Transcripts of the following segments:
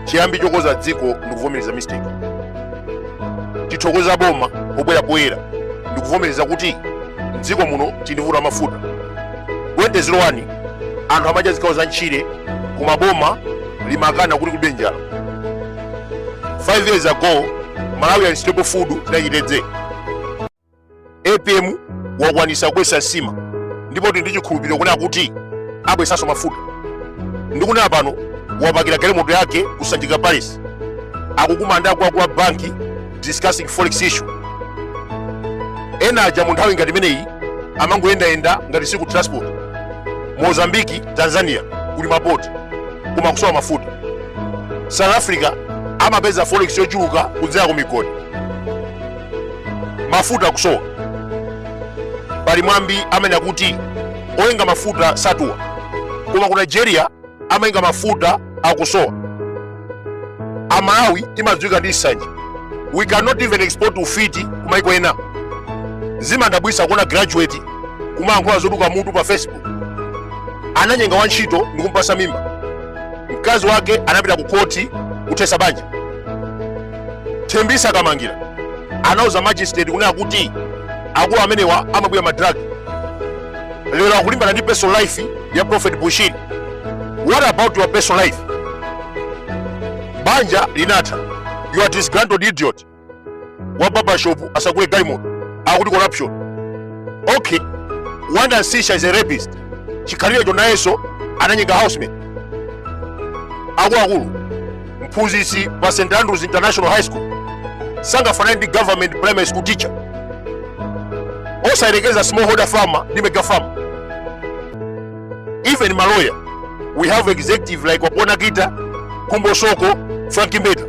chiyambi chokoza dziko ndikuvomereza mistake tithokoza boma pobwera poyera ndikuvomereza kuti mdziko muno tili ndi vuto la mafuta 2001 anthu amadya zikhawo za ntchire koma boma limakana kuti kulibe njala 5 years ago malawian staple food inali chitedze apm wakwanisa kubwesa nsima ndipo tili ndi chikhulupiriro kunena kuti abwesanso mafuta ndikunena pano wapakira galimoto yake ku sanjika palace akukumana ndi akuluakulu a banki discussing forex issue ena aja mu nthawi ngati imeneyi amangoyendayenda ngati siku transport mozambiki tanzania kuli mapoti koma kusowa mafuta south africa amapeza forex yochuluka kudzera ku migodi mafuta akusowa pali mwambi amanena kuti oyenga mafuta satuwa koma ku nigeria amayenga mafuta akusowa amalawi timadziwika ndi nsanje we cannot even export ufiti kumaiko ena zimandidabwisa kuona graduate kumayankhula zoduka mutu pa facebook ananyenga wantchito ndi kumpasa mimba mkazi wake anapita ku koti kuthesa banja thembisa kamangira anauza magistrate kunena kuti akulu amenewa amabwira madrag lero akulimbana ndi personal life ya prophet bushiri what about your personal life banja linatha you are disgruntled idiot wa barbershop asagule galimoto akuti corruption okay wanda sisha is a rapist chikhalirecho nayenso ananyenga housemaid akuluakulu mphunzitsi pa st andrews international high school sangafanane ndi government primary school teacher osayerekeza smallholder farmer ndi mega farmer even maloya we have executive like wapona kita kumbo soko frank mbeta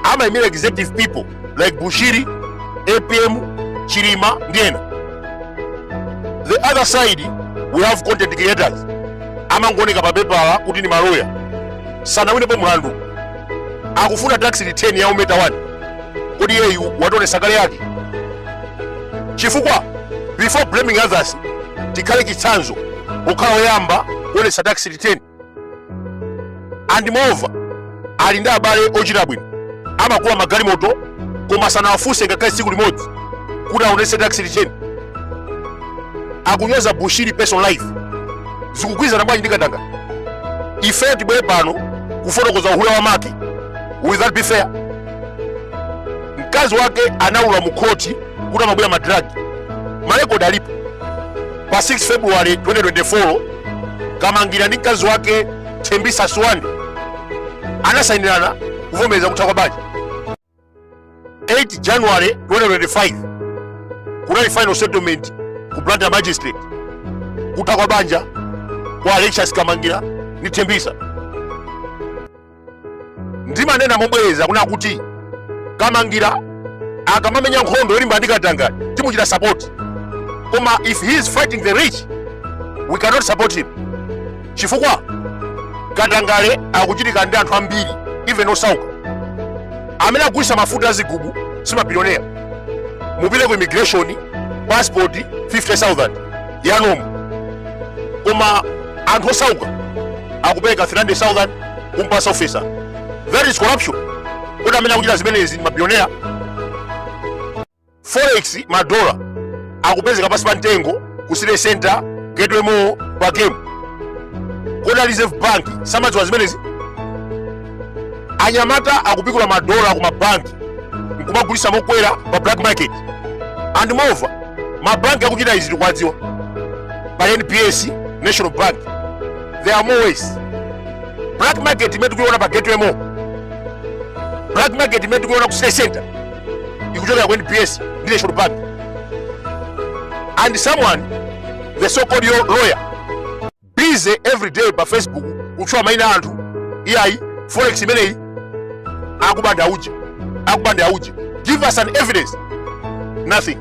amayimira executive people like bushiri apm chilima ndi ena the other side we have content creators amangoneka pa pepala kuti ndi maloya sanawinepo mlandu akufuna tax return ya umeta 1 kodi iyeyu wationesa kale yake chifukwa before blaming others tikhale chitsanzo kukhala oyamba kuonesa tax return and moreover ali ndi abale ochita bwino amagula magalimoto koma sanawafunse ngakhale tsiku limodzi kuti aonetse tax return akunyoza bushiri personal life zikugwirizana bwanji ndi katangale ifeyo tibwere pano kufotokoza uhule wa make will that be fair mkazi wake anaulula mukhoti kuti amabwira madragi marekodi alipo pa 6 february 2024 kamangira ndi mkazi wake thembisa suwandi anasayinirana kuvomereza kutha kwa banja 8 january 2025 kunali final settlement ku blantyre magistrate kutha kwa banja kwa alexious kamangira ndi thembisa ndimanena mobwereza kuna kuti kamangira akamamenya nkhondo yolimba ndi katangale timuchita sapoti koma if he is fighting the rich we cannot support him chifukwa katangale akuchitika ndi anthu ambiri even osauka amene agulisa mafuta azigubu simabilionera mupite ku immigration passport 50000 yomweyo koma anthu osauka akupereka 300000 kumpasa officer that is corruption kodi amene akuchita zimenezi mabillionaire forex madola akupezeka pansi pa mtengo ku city center gateway mall pa game kodi reserve bank samadziwa zimenezi anyamata akupikula madola ku mabanki nkumagulisa mokwera pa black market and moreover mabanki akuchita izi tikuwadziwa pali nbs national bank there are more ways black market imene tikuiona pa gateway mall black market imene tikuiona ku city center ikuchokera ku nbs ndi national bank and someone the so called yo- lawyer busy every day pa facebook kutchula maina a anthu iyayi forex imeneyi akubanda auje akubanda auje give us an evidence nothing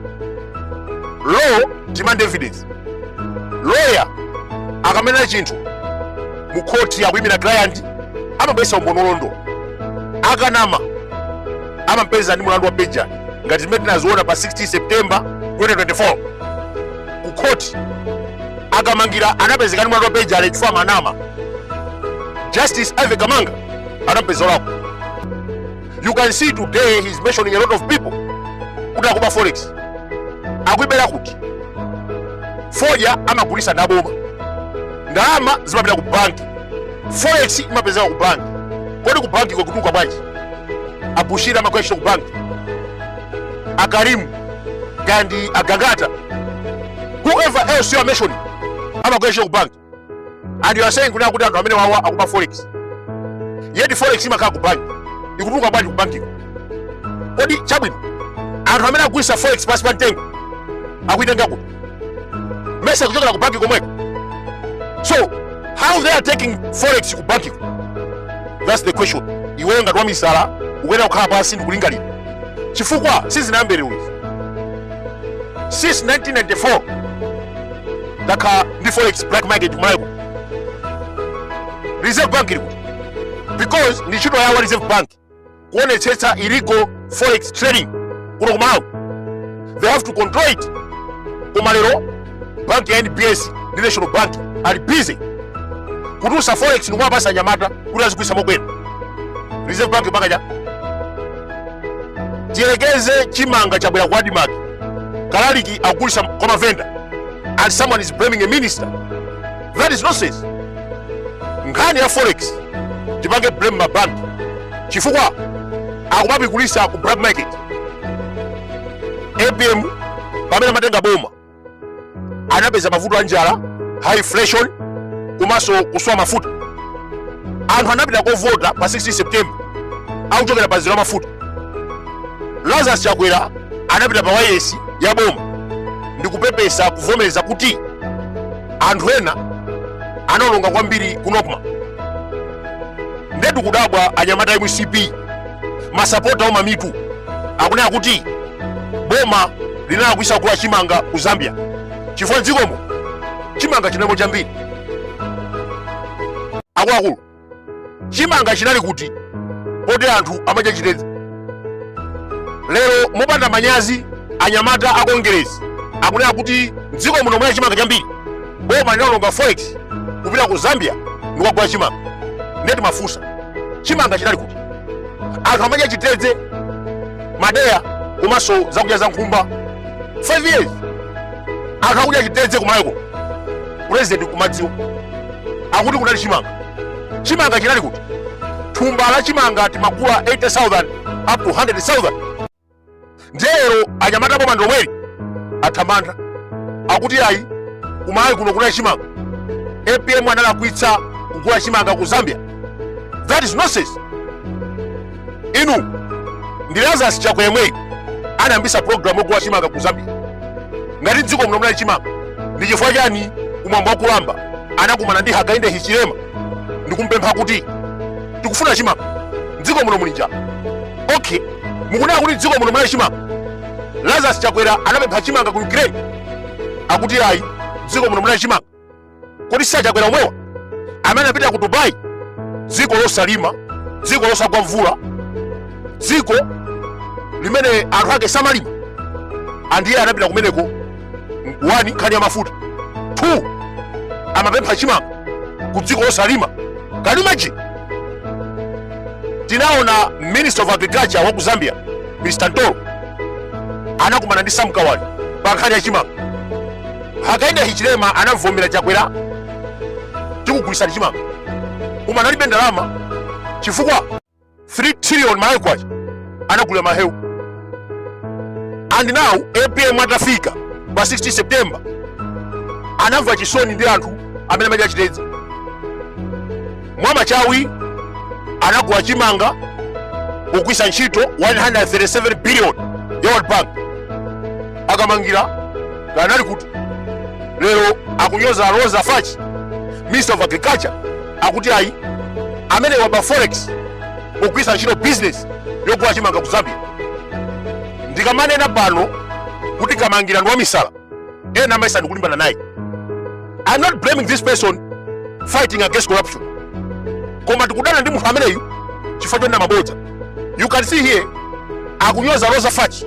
law demand evidence loya akamanena chinthu mu khoti akuyimira client amabweretsa umboni olondola akanama amampeza ndi mulandu wa perjury ngati zimene tinaziona pa 16 september 2024 ku khoti akamangira anapezeka ndi mulandu wa perjury chifukwa ananama justice ivy kamanga anampeza olakwa you can see today he's mentioning a lot of people kuti akuba forex akuibera kuti fodya amagulisa ndaboma ndalama zimapita ku banki forex imapezeka ku banki kodi ku banki ikutuluka bwanji abushiri amagwira ntchito ku banki akarimu gandi agangata whoever else you are mentioning amagwira ntchito ku banki and you are saying kuna kuti anthu amene wawa akuba forex yet forex imakhala ku bank ikutuluka bwanji ku bankiko kodi chabwino anthu amene agulisa forex pansi pa mtengo akuitenga kuti mesa kuchokera ku banki komweko so how they are taking forex ku bankiko that's the question iweyo ngati wamisala ukuyenera kukhala pansi ndikulingalira chifukwa sizinayambe lero izi since 1994 takhala ndi forex black market ku Malawi kuno reserve bank ili kuti because ndi ntchito yawo reserve bank kuonetsetsa illegal forex trading kuno ku Malawi they have to control it koma lero bank ya nbs ndi national bank ali busy kutulutsa forex ndikumapatsa anyamata kuti azigulitsa mokwera reserve bank pakacha tiyerekeze chimanga chabwera ku admarc kalaliki akugulitsa kwa mavenda and someone is blaming a minister that is nonsense nkhani ya forex tipange blame mabank chifukwa akumapigulitsa ku black market apm pamene amatenga boma anapeza mavuto a njala high inflation komanso kusowa mafuta anthu anapita kovota pa 16 september akuchokera pa mzere wa mafuta lazarus chakwera anapita pa wayesi ya boma ndi kupepesa kuvomereza kuti anthu ena anaononga kwambiri ku nocma ndiyetu kudabwa anyamata a mcp masapota ouma mitu akunena kuti boma linalakwitsa kugula chimanga ku zambia chifukwa mdziko muno chimanga chinalimo chambiri akuluakulu chimanga chinali kuti poti anthu amadya chitedze lero mopanda manyazi anyamata a kongeresi akunena kuti mdziko muno munali chimanga chambiri boma linaononga forex kupita ku zambia ndikukagula chimanga nde timafunsa chimanga chinali kuti anthu amadya chitedze madeya komanso zakudya za nkhumba 5 years anthu akudya chitedze ku Malawi kuno president akumadziwa akuti kunali chimanga chimanga chinali kuti thumba la chimanga timagula 80000 up to 100000 ndiye lero anyamata a boma ndi omwe ali athamanga akuti ayi ku Malawi kuno kunali chimanga apm analakwitsa kugula chimanga ku zambia that is nonsense inu ndi lazarus chakwera yemweyi anayambitsa program yogula chimanga ku zambia ngati mdziko muno munali chimanga ndi chifukwa chani kumwamba wakulamba anakumana ndi hakainde hichilema ndikumpempha kuti tikufuna chimanga mdziko muno muli njala okay mukunena kuti mdziko muno munali chimanga lazarus chakwera anapempha chimanga ku ukraine akuti ayi dziko muno munali chimanga kodi si achakwera omwewa amene anapita ku dubai dziko losalima dziko losagwa mvula dziko limene anthu ake samalima andiye anapita kumeneko one nkhani ya mafuta two amapempha chimanga ku dziko losalima can you imagine tinaona minister of agriculture wa ku zambia mr mtolo anakumana ndi sam kawale pa nkhani ya chimanga hakainde hichilema anamvomera chakwera tikugulitsani chimanga koma analibe ndalama chifukwa 3 trillion malawi kwacha anagula mahewu and now apm atafika pa 16 september anamva chisoni ndi anthu amene amadya chitedze mwamachawi anagula chimanga kugwiritsa ntchito 137 billion ya world bank a kamangila kanali kuti lero akunyoza roza fatch minister of agriculture akuti ayi ameneyu waba forex pogwiritsa ntchito business yogula chimanga ku zambia ndikamanena pano kuti kamangila ndi wamisala ena amayesa ndikulimbana naye i'm not blaming this person fighting against corruption koma tikudana ndi munthu ameneyu chifukwa chonena mabodza you can see here akunyoza roza fatch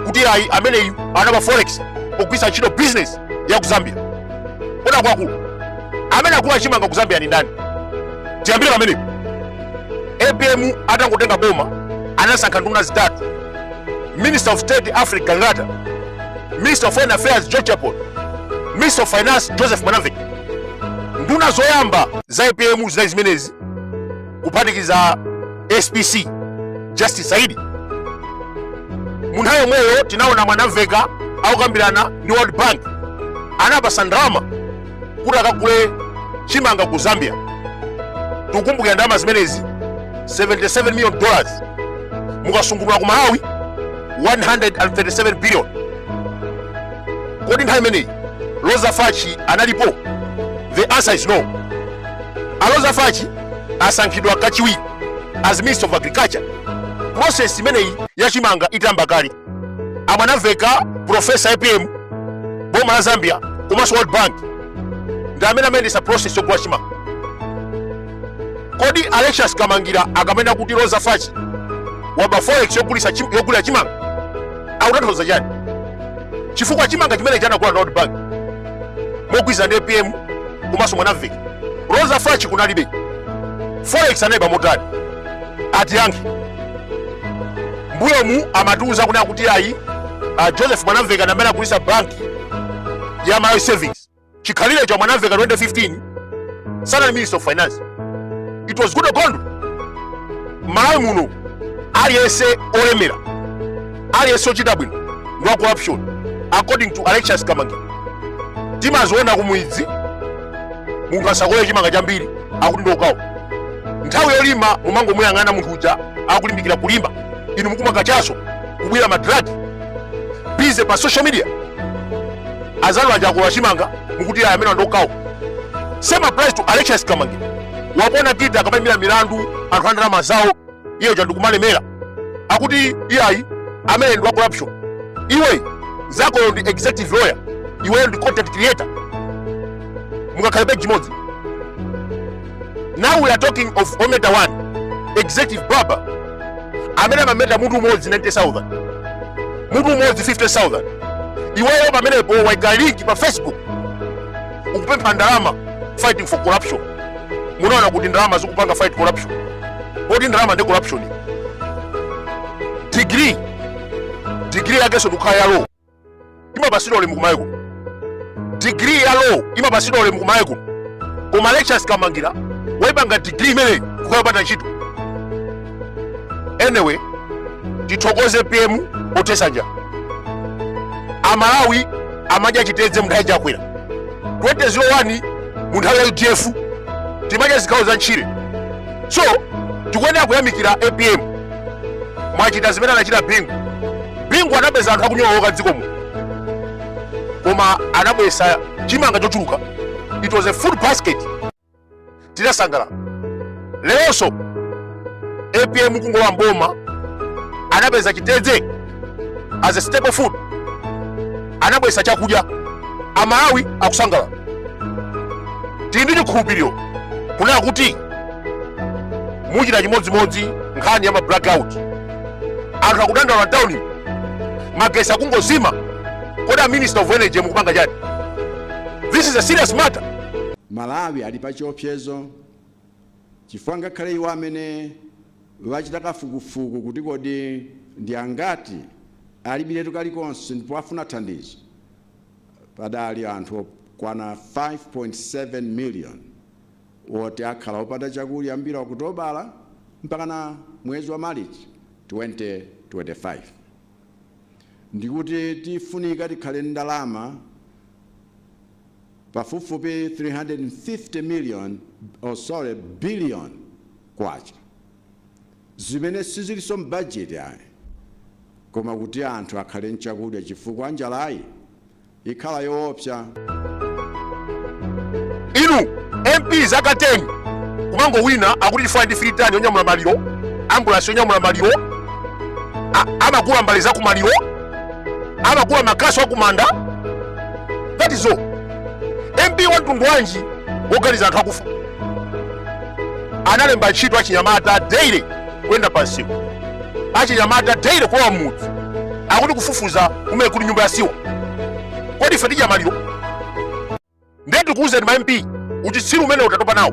kuti ayi ameneyu anaba forex pogwiritsa ntchito business ya ku zambia kodi akuluakulu amene agula chimanga ku zambia ndi ndani tiyambire pamenepo apm atangotenga boma anasankha nduna zitatu minister of state alfred gangata minister of foreign affairs george chaponda minister of finance joseph mwanamvekha nduna zoyamba za apm zinali zimenezi kuphatikiza spc justice saidi mu nthawi yomweyo tinaona mwanamvekha akukambirana ndi world bank anapasa ndalama kuti akagule chimanga ku zambia tikukumbukira ndalama zimenezi 77 million dollars mukasungunula ku malawi 137 billion kodi nthawi imeneyi roza fatch analipo the answer is no a roza fatch asankhidwa kachiwiri as minister of agriculture process imeneyi ya chimanga itayamba kale a mwanamvekha profesa apm boma la zambia komanso world bank ndi amene amayendesa process yogula chimanga kodi alexious kamangila akamanena kuti roza fatch waba forex yogulisa chim- yogulira chimanga akutanthauza chani chifukwa chimanga chimenechi anagula ndi world bank mogwirizana ndi apm komanso mwanamvekha roza fatch kunalibe forex anaiba motani atiyankhe mbuyomu amatiuza kunena kuti ayi joseph mwanamveka ndi amene anagulisa banki ya malawi savings chikhalirecho mwanamveka 2015 sanali minister of finance it was goodall gondwe malawi muno aliyense olemera aliyense ochita bwino ndi wa corruption according to alexious kamangila timaziona kumudzi munthu asakolole chimanga chambiri akuti ndi okawa nthawi yolima mumangomuyang'ana munthu uja akulimbikira kulima inu mukumwa kachaso kubwira madragi busy pa social media azanu aja akolola chimanga mukuti ayi ameneyo ndi okawa same applies to alexious kamangila wapona kita akamayimira milandu anthu andalama zawo iye uja ndikumalemera akuti iyayi ameneyu ndi wa corruption iwe nzakoyo ndi executive lawyer iweyo ndi content creator mungakhale page imodzi now we are talking of ometa 1 executive barber amene amameta mutu umodzi 90000 mutu umodzi 50000 iweyo pamenepo waika link pa facebook ukupempha ndalama fighting for corruption munaona kuti ndalama zikupanga fight corruption kodi ndalama ndi corruption degree degree yakenso ndikukhala ya law imapasidwa ulemu kumayiko degree ya law imapasidwa ulemu kumayiko koma alexious kamangila waipanga degree imeneyi kukhala yopanda ntchito anyway tithokoze apm pothesa njala amalawi amadya chitedze munthawi chakwera 2001 munthawi ya udf timadya zikhawo za ntchire so tikuyenera kuyamikira apm mwachita zimene anachita bingu bingu anapeza anthu akunyowoka dziko muno koma anabwesa chimanga chochuluka it was a food basket tinasangalala leronso apm kungolowa mboma anapeza chitedze as a staple food anabwesa chakudya amalawi akusangalala tili ndi chikhulupiriro kunena kuti muchita chimodzimodzi nkhani ya ma blackout anthu akudandaula mtawuni magesi akungozima kodi a minister of energy mukupanga chani this is a serious matter Malawi ali pa chiopsezo chifukwa ngakhale iwo amene achita kafukufuku kuti kodi ndi angati alibiletu kalikonse ndipo afuna thandizo, padali anthu okwana 5.7 million oti akhala opanda chakudya kuyambira Okutobala mpakana mwezi wa Malichi 2025. Ndikuti tifunika tikhale ndi ndalama. pafupifupi 350 million, oh sorry, billion kwacha zimene sizilinso m'bajeti ayi koma kuti anthu akhale nchakudya chifukwa njalayi ikhala yoopsa. inu mp zaka 10 kumangowina akuti chifukwa ndi fritani yonyamula maliro ambulasi yonyamula maliro a- amagula mbale za kumaliro amagula makasu akumanda that is all mp wa mtundu wanji woganiza anthu akufa analemba ntchito achinyamata daily kuyenda pansiku achinyamata daily kulowa mmudzi akuti kufufuza kumene kuli nyumba ya siwa kodi ife tidya maliro ndiye tikuwuzeni ma mp uchitsiru umene tatopa nawo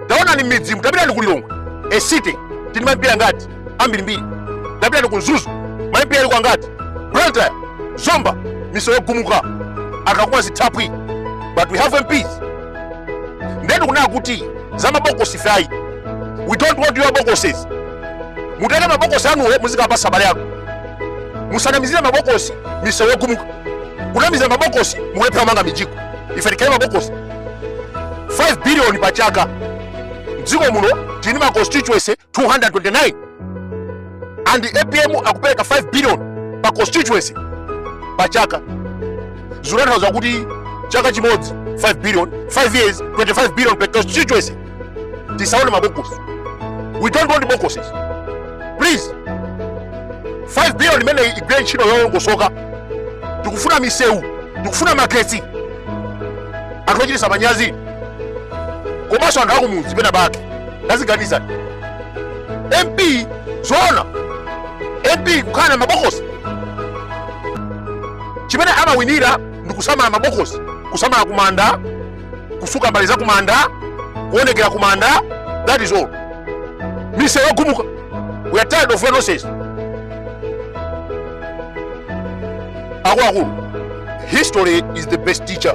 taonani m'midzimu tapitani ku lilongwe city tili ma mp angati ambirimbiri tapitani ku mzuzu ma mp aliko angati blantyre zomba misewu yogumuka akakumwa zithaphwi but we have mps ndiye tikunena kuti za mabokosi fayi we don't want your boxes mutenge mabokosi anuwo muzikapatsa abale anu musanamizire mabokosi misewu yogumuka kunamizira mabokosi mukulephera kumanga mijigo ife tikhale mabokosi 5 billion pa chaka mdziko muno tili ma constituency 229 and apm akupereka 5 billion pa constituency pa chaka zikutanthauza kuti chaka chimodzi 5 billion 5 years 25 billion per constituency tisaone mabokosi we don't want boxes please 5 billion imene igwire ntchito yolongosoka tikufuna misewu tikufuna magetsi anthu ochititsa manyazi komanso anthu akumudzi pena pake tadziganizani mp zoona mp kukhala na mabokosi chimene amawinira ndi kusamala mabokosi kusamala kumanda kutsuka mbale za kumanda kuonekera kumanda that is all misewu yogumuka we are tired of your nonsense akuluakulu history is the best teacher